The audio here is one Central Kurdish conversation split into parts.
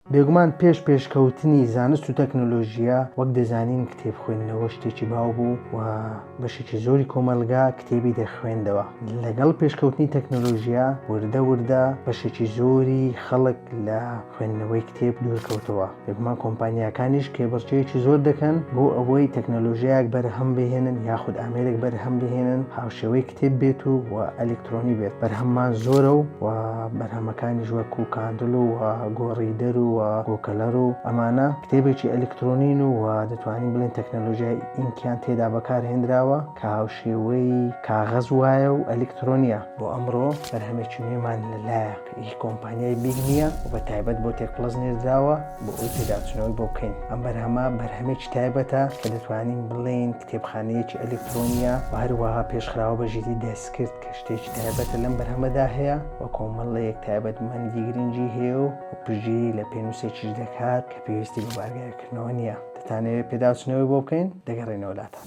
بێگومان پێش پێشکەوتنی زانست و تەکنۆلۆژیە وەک دەزانین کتێب خوێندنەوە شتێکی باو بوو و بەشێکی زۆری کۆمەلگا کتێبی دەخوێندەوە لەگەڵ پێشکەوتنی تەکنۆلۆژیە وردە وردە بەشێکی زۆری خەڵک لە خوێندنەوەی کتێب دوورکەوتەوە بێگومان کۆمپانیاکانیش کێبڕچەیەکی زۆر دەکەن بۆ ئەوەی تەکنۆلۆژیایەک بەرهەم بهێنن یاخود ئامێرێک بەرهەم بهێنن هاوشێوەی کتێب بێت و و ئەلکترۆنی بێت بەرهەممان زۆرە و بەرهەمەکانیش وەکو کاندڵ و گۆڕیدەر و گۆکەلەر و ئەمانە کتێبێکی ئەلیکترۆنین و دەتوانین بڵێن تەکنەلۆژیای ئینکیان تێدا بەکارهێنراوە کە هاوشێوەی کاغەز وایە و ئەلیکترۆنیە. بۆ ئەمڕۆ بەرهەمێکی نوێمان لە لایەک ی کۆمپانیای بیگ نییە و بە تایبەت بۆ تێک پڵەس نێردراوە بۆ ئەوەی پێداچونەوەی بۆ بکەین. ئەم بەرهەمە بەرهەمێکی تایبەتە کە دەتوانین بڵێین کتێبخانەیەکی ئەلیکترۆنییە و هەروەها پێشخراوە بە ژیری دەستکرد کە شتێکی تایبەتە لەم بەرهەمەدا هەیە و کۆمەڵەیەک تایبەتمەندی گرنگی هەیە و پشتگیری لە پێنووسێکیش دەکات کە پێویستی بە بارگایکردنەوە نییە دەتانەوێت پێداچنەوەی بۆ بکەین دەگەڕێنەوە لاتان.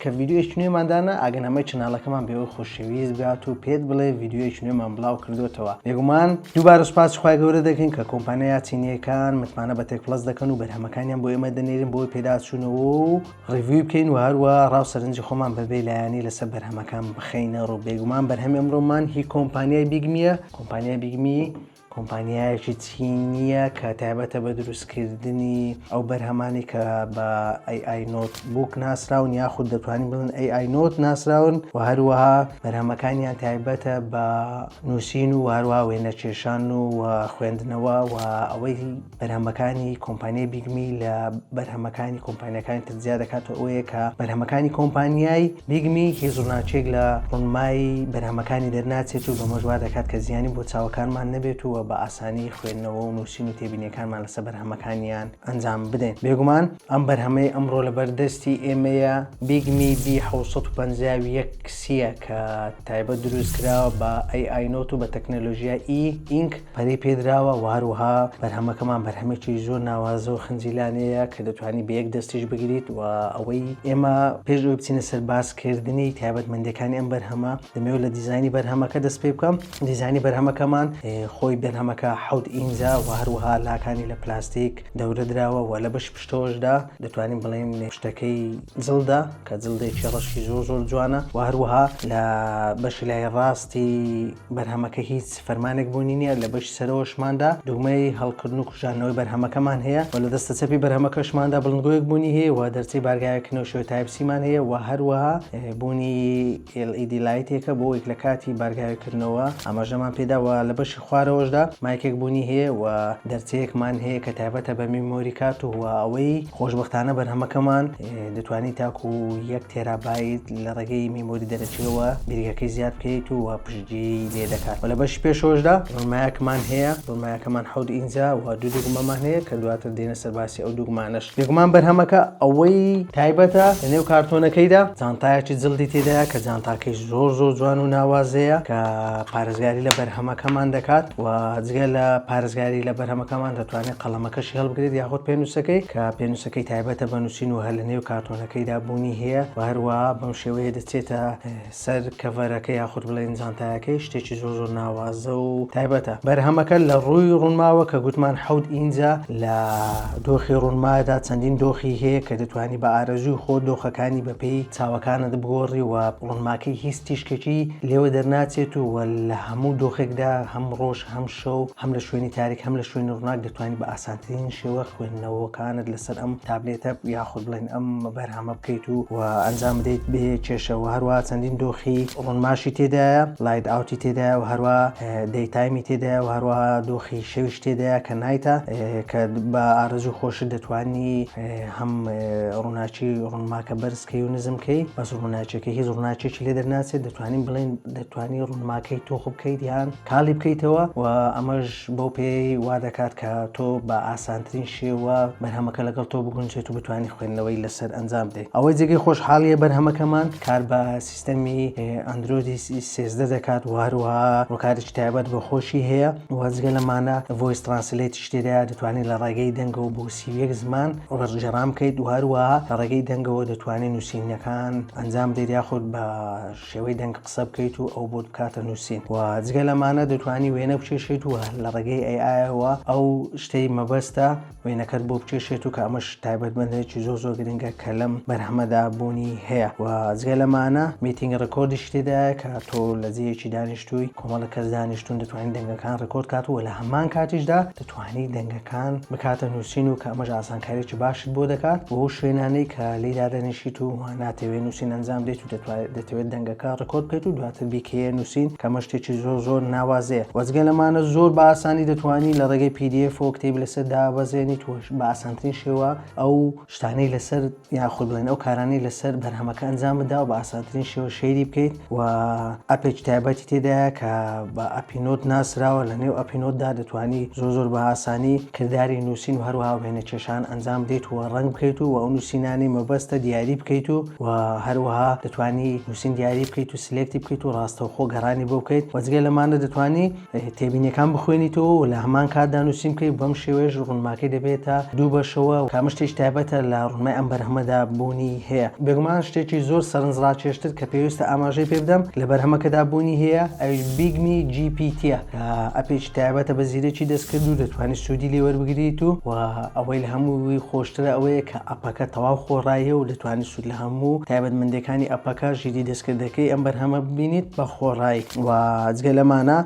کە ڤیدیۆیەکی نوێمان دانا ئەگەن هەمەی چناڵەکەمان بێەوەی خۆشەویست بگات و پێت بڵێ ڤیددیوەکی نوێمان بڵاو کردوێتەوە بێگومان دووبارە سوپاس خخوای گەورە دەکەین کە کۆمپانیا چینیەکان متمانە بە تێک پلس دەکەن و بەرهەمەکانیان بۆ ئێمە دەنێرین بۆی پێداچوونەوە و ڕیوی بکەین و هەروە ڕاو سەرنجی خۆمان بەبێ لایەنی لەسەر بەرهەمەکان بخینە ڕوو بێگومان بەرهەمی ئەمرۆمان هی کۆمپانیای بیگمیە کۆمپانیای بیگمی کۆمپانیایەکی چینییە کە تایبەتە بە دروستکردنی ئەو بەرهەمانەی کە بە AI Notebook ناسراون یاخود دەتوانین بڵێن AI Note ناسراون و هەروەها بەرهەمەکانیان تایبەتە بە نووسین و هەروەها وێنەکێشان و خوێندنەوە و ئەوەی بەرهەمەکانی کۆمپانیای بیگمی لە بەرهەمەکانی کۆمپانیەکانی تر زیاد دەکات و ئەوەیە کە بەرهەمەکانی کۆمپانیای بیگمی هێزوناچێک لە ڕونمایی بەرهەمەکانی دەرناچێت و بەمەژوا دەکات کە زیانی بۆ چاوەکانمان نەبێت و بە ئاسانی خوێندنەوە و نووسین و تێبینیەکانمان لەسە بەرهەمەکانیان ئەنجام بدەین بێگومان ئەم بەرهەمەی ئەمڕۆ لە بەردەستی ئێمەیە بیگمی بی 1950 کسیە کە تایبەت دروست کراوە بە ئەی ئاینۆت و بە تەکنەلۆژیای ئی ئینک پەرەی پێدراوە و هەروەها بەرهەمەکەمان بەرهەمێکی زۆر ناوازە و خنجیلانەیە کە دەتوانانی بە یەک دەستیش بگریت و ئەوەی ئێمە پێش ئەوی بچینە سەر باسکردنی تایبەتمەندەکانی ئەم بەرهەمە دەمەوێت لە دیزانی بەرهەمەکە دەست پێ بکەم دیزانی بەرهەمەکەمان خۆی بەرهەمەکە حەوت ئینجا و هەروەها لاکانی لە پلاستیک دەورە دراوە و لە بەش پشتەوەشدا دەتوانین بڵێن شتەکەی جڵدا کە جلدێکی ڕەشی زۆر زۆر جوانە و هەروەها لە بەشی لای ڕاستی بەرهەمەکە هیچ فەرمانێک بوونی نییە لە بەشی سەرەوەشماندا دوگمەی هەڵکردن و کوژاندنەوەی بەرهەمەکەمان هەیە و لە دەستە چەپی بەرهەمەکەشماندا بڵندگۆیەک بوونی هەیە و دەرچەی بارگاوێک کە نەوشەوەی تایپ سیمان هەیە و هەروەها بوونی LED لایتێکە بۆ وەیک لە کاتی بارگاوێکردنەوە ئاماژەمان پێدا و لە بەشی خوارەوەشدا مایکێک بوونی هەیە و دەرچەیەکمان هەیە کە تایبەتە بە میمۆری کارت و ئەوەی خۆشبەختانە بەرهەمەکەمان دەتوانیت تاکو یەک تێرابیت لە ڕێگەی میمۆری دەرەچیەوە بیرگەکەی زیاد بکەیت و پشتگی لێ دەکات و لە بەش پێشۆشدا ڕمایەکمان هەیە ڕمایەکەمان حەود ئینجا و دوو دوگمەمان هەیە کە دواتر دێنە سەرباسی ئەو دوگمانەش دوگمان بەرهەمەکە ئەوەی تایبەتە لە نێو کارتۆنەکەیدا جانتایەکی جلدی تێدایە کە جانتاکەی زۆر زۆر جوان و ناوازەیە کە پارێزگاری لە بەرهەمەکەمان دەکات و جگە لە پارێزگاری لە بەرهەمەکەمان دەتوانێت قەڵەمەکەشی هەڵبگرێت یاخود پێنووسەکەی کە پێنووسەکە کەی تایبەتە بە نووسین و هەر لە نێو کارتۆنەکەیدا بوونی هەیە و هەروەها بەم شێوەیە دەچێتە سەر کەڤەرەکە یاخود بڵێن جانتایەکەی شتێکی زۆر زۆر ناوازە و تایبەتە بەرهەمەکە لە ڕووی ڕوونماوە کە گوتمان حەوت ئینجە لە دۆخی ڕوونمادا چەندین دۆخی هەیە کە دەتوانی بە ئارەزووی خۆ دۆخەکانی بەپێی چاوەکانت بگۆڕی و ڕوونماکەی هیچ تیشکێکی لێوە دەرناچێت و لە هەموو دۆخێکدا هەم ڕۆژ هەم شەو هەم لە شوێنی تاریک هەم لە شوێنی ڕووناک دەتوانی بە ئاسانترین شێوە خوێن نەوەکانت لەسەر ئەم تابلێتە یاخود بڵێن ئەم بەرهەمە بکەیت و و ئەنجام بدەیت بێ کێشەوە هەروە چەندین دۆخی ڕۆنماشی تێدایە لایت ئاوتی تێدا و هەروە دەیتایمی تێدا و هەروە دۆخی شەویش تێدایە کە نایتە کە بە ئارزوو خۆش دەتوانی هەم ڕووناچی ڕوونماکە بەرزکەی و نزمکەی بەس ڕووناچەکە هیچ ڕووناچێکی لێ دەرناچێت دەتوانین بڵێن دەتوانی ڕوونماکەی تۆخ بکەیت یان کاڵی بکەیتەوە و ئەمەش بەو پێیەی وا دەکات کە تۆ بە ئاسانترین شێوە بەرهەمەکە لەگەڵ تۆ بگونجێت و بتوانیت خوێندنەوەی لەسەر ئەنجام بدەیت. ئەوەی جێگەی خۆشحاڵییە بەرهەمەکەمان کار بە سیستەمی ئەندرۆیدی سێزدە دەکات و هەروەها ڕووکارێکی تایبەت بۆ خۆشی هەیە و جگە لەمانە ڤۆیس ترانسلەیتیش تێدایە، دەتوانیت لە ڕێگەی دەنگەوە بۆ سی و یەک زمان وەرگێڕان بکەیت و هەروەها لە ڕێگەی دەنگەوە دەتوانیت نووسینەکان ئەنجام بدەیت یاخود بە شێوەی دەنگ قسە بکەیت و ئەو بۆت بکاتە نووسین و جگە لەمانە دەتوانی وێنە بکێشێت و لە ڕێگەی ئەیایەوە ئەو شتەی مەبەستە وێنەکەت بۆ بکێشێت و کە ئەمەش تایبەتمەندێکی زۆر زۆر گرنگە کە لەم بەرهەمەدا بوونی هەیە و جگە لەمانە میتینگ ڕکۆردیش تێدایە کە تۆ لە جێیەکی دانیشتووی کۆمەڵە کەس دانیشتون دەتوانین دەنگەکان ڕکۆرد کات و لە هەمان کاتیشدا دەتوانی دەنگەکان بکاتە نووسین و کە ئەمەش ئاسانکاریی باشت بۆ دەکات بۆ شوێنانەی کە لێی دادەنیشیت و ناتەوێت نووسین ئەنجام بدەیت و دەتوانێت دەتەوێت دەنگەکە ڕکۆرد بکەیت و دواتر بیکەیە نووسین کەمە شتێکی زۆر زۆر ناوازەیە وەزگە لەمانە زۆر بە ئاسانی دەتوانانی لە ڕێگەی PDF و کتێبی لەسەر دابەزێنیت و بە ئاسانترین شێوە ئەو شتانەی لەسەر یاخود بڵێن ئەو کارانەی لەسەر بەرهەمەکە ئەنجام بدا و بە ئاسانترین شێوە شەیری بکەیت و ئەپێکی تایبەتی تێدایە کە بە ئەپینۆت ناسراوە لە نێو ئەپینۆتدا دەتوانی زۆر زۆر بە ئاسانی کردداری نووسین و هەروها وێنە کێشان ئەنجام بدەیت و ڕنگ بکەیت و ئەو نووسینانی مەبەستە دیاری بکەیت و و هەروها دەتوانی نووسین دیاری بکەیت و سلێکتی بکەیت و ڕاستەوخۆ گەڕانی بۆ بکەیت وەجگە لەمانە دەتوانی تێبینیەکان بخوێنیتەوە و لە هەمان کاتدا نووسین بکەیت بەم شێوەیەش ڕونماکەی دەبێتە دوو بەشەوە کە ئەمە شتێکی تایبەتە لە ڕونمای ئەم بەرهەمەدا بوونی هەیە بێگومان شتێکی زۆر سەرنجڕاکێشتر کە پێویستە ئاماژەی پێ بدەم لە بەرهەمەکەدا بوونی هەیە ئەویش بیگمی جی پی تیە کە ئەپێکی تایبەتە بە زیرەکی دەستکرد و دەتوانانی سوودی لێ وەربگریت و و ئەوەی لە هەمووی خۆشترە ئەوەیە کە ئەپەکە تەواو خۆڕاییە و دەتوانانی لە هەموو تایبەتمەندیەکانی ئەپەکە ژیری دەستکردەکەی ئەم بەرهەمە ببینیت بە خۆڕای و جگە لەمانە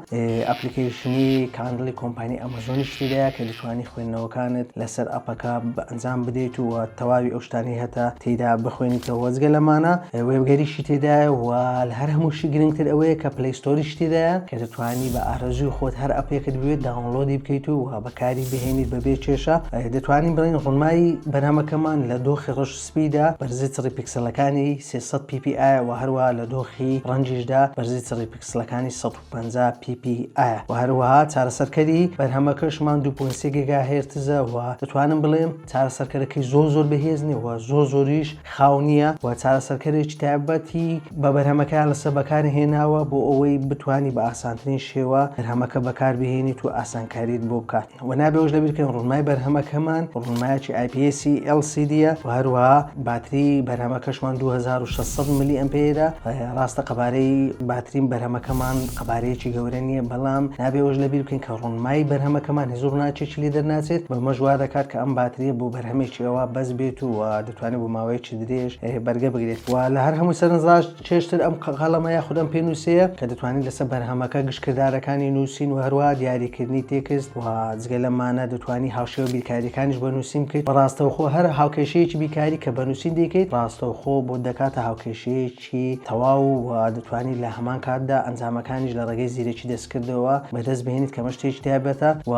ئەپلیکیشنی کاندڵی کۆمپانی ئەمەزۆنی شتیدایە کە دشوانی خوێندنەوەکانت لەسەر ئەپەکە بە ئەنجام بدەیت و تەواوی ئەو شتانی هەتا تێدا بخوێنیتەوە جگە لەمانە وێبگەریشی تێدایە و لە هەر هەمووشی گرنگتر ئەوەیە کە پلیستۆری شتیدایە کە دەتوانی بە ئارەزوی خۆت هەر ئەپێکت بوێت داونلۆدی بکەیت و بەکاری بهێنیت بەبێ کێشە دەتوانین بڵین ڕونمای بەرهەمەکەمان لە دۆخی ڕش سپیدا، بەرزی چڕی پیکسلەکانی سێ سەد پی پی ئایە وە هەروەها لە دۆخی ڕەنگیشدا بەرزی چڕی پیکسلەکانی سەد و پەنجا پی پی ئایە وە هەروەها چارەسەرکەری بەرهەمەکەش مان دوو پوێن سێ گێگا هێرتزە وە دەتوانم بڵێم چارەسەرکەرەکەی زۆر زۆر بەهێز نیە وە زۆر زۆریش خاو نیە وە چارەسەرکەرێکی تایبەتی بە بەرهەمەکەیان لەسەر بەکار هێناوە بۆ ئەوەی بتوانی بە ئاسانترین شێوە بەرهەمەکە بەکار بهێنیت و ئاسانکاریت بۆ بکات. و نابێ ئەوەش لەبیر بکەین ڕوونمای بەرهەمەکەمان ڕوونمایەکی IPS LCD ە و هەروەها باتری بەرهەمەکەشمان 2600 ملی ئەمپێرە ڕاستە قەبارەی باتری بەرهەمەکەمان قەبارەیەکی گەورە نییە بەڵام نابێ ئەوەش لەبیر بکەین کە ڕوونمای بەرهەمەکەمان هیچ ڕووناکێکی لێ دەرناچێت بەمەش وا دەکات کە ئەم باتریە بۆ بەرهەمێکی ئەوە بەس بێت و دەتوانێت بۆ ماوەیەکی درێژ بەرگە بگرێت و لە هەر هەمووی سەرنجڕاش چێژتر ئەم قەڵەمە یاخود ئەم پێنووسەیە کە دەتوانیت لەسەر بەرهەمەکە گشت کردارەکانی نووسین و هەروەها دیاریکردنی تێکست و جگە لەمانە دەتوانی هاوشێوە بیرکاریەکانیش بۆ نووسین بکەیت بە ڕاستەوخۆ هەر هاوکێشەیەکی بیرکاری کە بە نووسین دەیکەیت ڕاستەوخۆ بۆت دەکاتە هاوکێشەیەکی تەواو و دەتوانی لە هەمان کاتدا ئەنجامەکانیش لە ڕێگەی زیرەکی دەست کردەوە بەدەست بهێنیت کەمە شتێکی تایبەتە و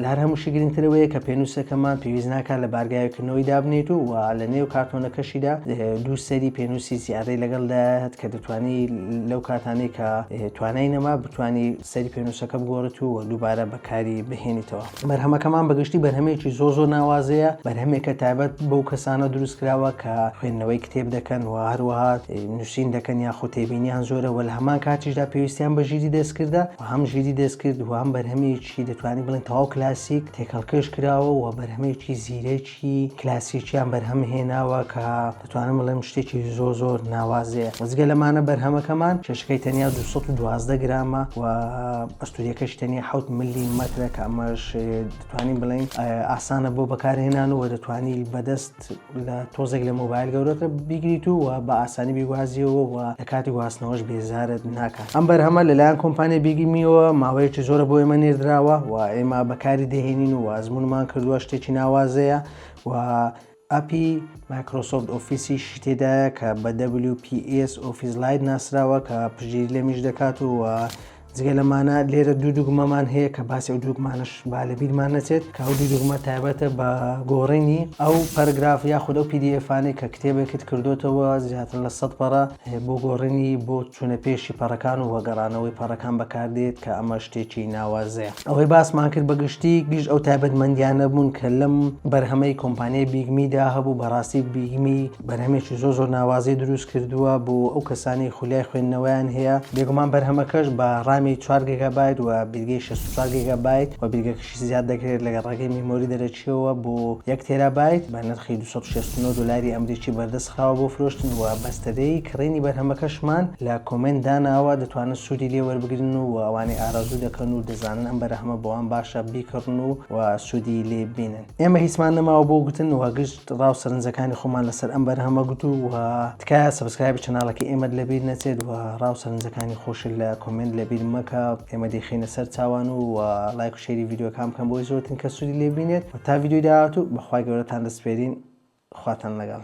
لار هەمووشی گرنگترەوەیە کە پێنووسەکەمان پێویست ناکات لە بارگاوکردنەوەی دابنێت و لە نێو کارتۆنەکەشیدا دوو سەری پێنووسی زیادەی لەگەڵ داهت کە دەتوانی لەو کاتانەی کە توانای نەما بتانی سەری پێنووسەکە بگۆڕێت و دووبارە بەکاری بهێنیتەوە. بەرهەمەکەمان بەگشتی بەرهەمێکی زۆر زۆر ناوازەیە بەرهەمێکە تایبەت بەو کەسانە دروست کراوە کە خوێندنەوەی کتێب دەکەن و هەروەها نووسین دەکەن یا خۆتێبینیان زۆرە وە لە هەمان کاتیشدا پێویستیان بە ژیری دەستکردە و هەم ژیری دەستکرد و هەم بەرهەمێکی دەتوانین بڵێن تەواو کلاسیک تێکەڵکێش کراوە و بەرهەمێکی زیرەک شتی کلاسیکیان بەرهەم هێناوە کە دەتوانم بڵێم شتێکی زۆر زۆر ناوازەیە وەزگە لەمانە بەرهەمەکەمان کێشەکەی تەنیا 212 گرامە و ئەستوریەکەش تەنیا حوت ملی مەترە کە ئەمەش دەتوانین بڵین ئاسانە بۆ بەکارهێنان و دەتوانی بەدەست لە تۆزێک لە مۆبایل گەورەکە بیگریت و بە ئاسانی بیگوازیەوە و لە کاتی گواستنەوەش بێزارت ناکە ئەم بەرهەمە لەلایەن کۆمپانیای بیگی میوە ماوەیەکی زۆرە بۆ ئێمە نێردراوە و ئێمە بەکاری دەهێنین و ئازمونمان کردووە شتێکی ناوازەیە و ئەپی مایکرۆسۆفت ئۆفیسی شتێدایە کە بە WPS ئۆفیس لایت ناسراوە کە پژیر لەمیش دەکات و جگە لەمانە لێرە دوو دوگمەمان هەیە کە باسی ئەو دوگمانش با لە بیرمان نەچێت کە ئەو دوو دوگمە تایبەتە بە گۆڕینی ئەو پەرگراف یاخود ئەو پیدیفانێک کە کتێبێکت کردوتەوە زیاتر لە سەد پەڕە بۆ گۆڕینی بۆ چوونە پێشی پەڕەکان و وەگەڕانەوەی پەڕەکان بەکاردێت کە ئەمە شتێکی ناوازەیە ئەوەی باسمان کرد بەگشتی گشت ئەو تایبەتمەندیانە بوون کە لەم بەرهەمەی کۆمپانیای بیگمیدا هەبوو بەڕاستی بیگمی بەرهەمێکی زۆر زۆر ناوازەی دروست کردووە بۆ ئەو کەسانی خولای خوێندنەوەیان هەیە بێگومان بەرهەمەکەش بە ڕامی چوار گێگابایت و بیرگەی 64 گێگابایت و بیرگەکەش زیاد دەکرێت لەگەڵ ڕێگەی میمۆری دەرەکیەوە بۆ یەک تێرابایت بە نرخی دوو سەد و شەست و نۆ دۆلاری ئەمریکی بەردەست خراوە بۆ فرۆشتن و بەستەرەی کڕینی بەرهەمەکەشمان لە کۆمێنت داناوە دەتوانن سوودی لێ وەربگرن و ئەوانەی ئارەزوو دەکەن و دەزانن ئەم بەرهەمە بۆوان باشە بیکڕن و سوودی لێ ببینن ئێمە هیچمان نەماوە بۆ گوتن و گشت ڕاو سەرنجەکانی خۆمان لەسەر ئەم بەرهەمە گوتو و تکایە سەبسکرایبی چەناڵەکەی ئێمەت لەبیر نەچێت و ڕاو سەرنجەکانی خۆشت لە کۆمێنت لەبیر مەکە ئێمە دەیخەینە سەر چاوان و لایک و شێری ڤیدیۆکان بکەن بۆی زۆرترین کەس سودی لێ بینێت و تا ڤیدیۆی داهاتوو بەخوای گەورەتان دەسپێرین خواتان لەگەڵ.